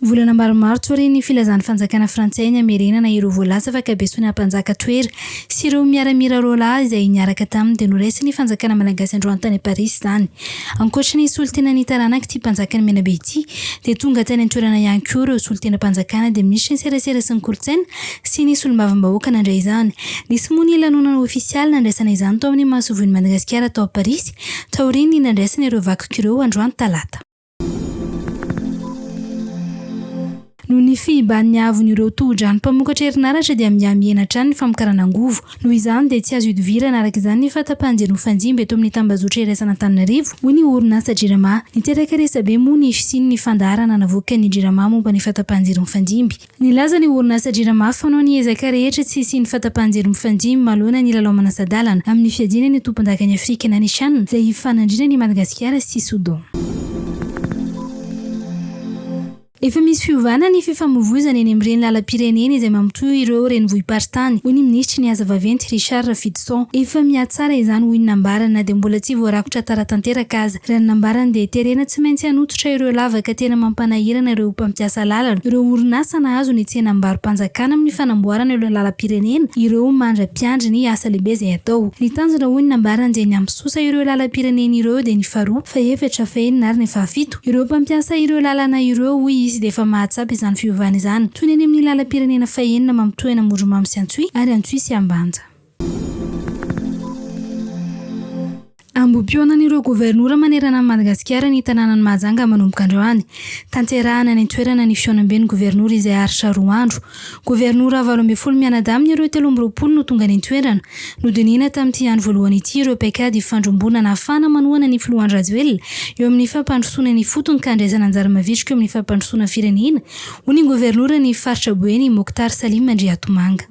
Volana maro Martsa aorian'ny filazan'ny fanjakana frantsay ny hamerenana ireo voalaza fa kabesoana mpanjaka Toera sy ireo miaramila roalahy izay niaraka taminy dia noraisin'ny fanjakana malagasy androany tany Parisy izany. Ankoatry ny solontena ny taranak'ity mpanjakan'i Menabe ity dia tonga tany an-toerana ihany koa ireo solontenam-panjakana dia minisitry ny serasera sy ny kolontsaina sy ny solombavambahoaka nandray izany. Nisy moa ny lanonana ofisialy nandraisana izany tao amin'ny masoivohon'i Madagasikara tao Parisy taorian'ny nandraisana ireo vakiko ireo androany talata. Noho ny fihiban'ny haavon'ireo tohodrano mpamokatra herinaratra dia mihamihena hatrany ny famokarana angovo. Noho izany dia tsy azo ihodivirana araka izany ny fahatapahan-jiro mifanjimby eto amin'ny tambazotra iraisan'Antananarivo, hoy ny orinasa Jirama. Niteraka resabe moa ny fisian'ny fandaharana navoakan'ny Jirama momba ny fahatapahan-jiro mifanjimby. Nilaza ny orinasa Jirama fa noho ny ezaka rehetra tsy hisian'ny fahatapahan-jiro mifandimby manoloana ny lalao manasa-dalana amin'ny fiadiana ny tompondakan'i Afrika na ny Chan izay hifanandrinana an'i Madagasikara sy Soudan. Efa misy fiovana ny fifamoivoizana eny amin'ireny lalam-pirenena izay mamitohy ireo renivohi-paritany, hoy ny minisitry ny Asa vaventy, Richard Rafidison. Efa mihatsara izany, hoy ny nambarany, na dia mbola tsy voarakotra tara tanteraka aza. Raha ny nambarany dia terena tsy maintsy hanototra ireo lavaka tena mampanahirana ireo mpampiasa lalana, ireo orinasa nahazo ny tsenam-barom-panjakana amin'ny fanamboarana ireo lalam-pirenena ireo mandra-piandry ny asa lehibe izay hatao. Ny tanjona hoy ny nambarany dia ny hampisosa ireo lalam-pirenena ireo dia ny faharoa, fahefatra, fahenina ary ny fahafito. Ireo mpampiasa ireo lalana ireo hoy izy dia efa mahatsapa izany fiovana izany, toy ny any amin'ny lalam-pirenena fahenina mamitohy an'Amoromamo sy Antsohihy ary Antsohihy sy Ambanja. Ambohimpionan'ireo governora manerana an'i Madagasikara ny tanànan'i Mahajanga manomboka androany. Tanterahana any an-toerana ny fihaonamben'ny governora izay haharitra roa andro. Governora valo ambin'ny folo mianadahy amin'ireo telo amby roapolo no tonga nitoerana. Nodinihina tamin'ity andro voalohany ity ireo paikady ifandrombona nahafahana manohana ny filoha Andry Rajoelina eo amin'ny fampandrosoana ny ifotony ka handraisana anjara mavitrika eo amin'ny fampandrosoana firenena, hoy ny governoran'ny faritra Boeny, Mokhtar Salim Andriatomanga.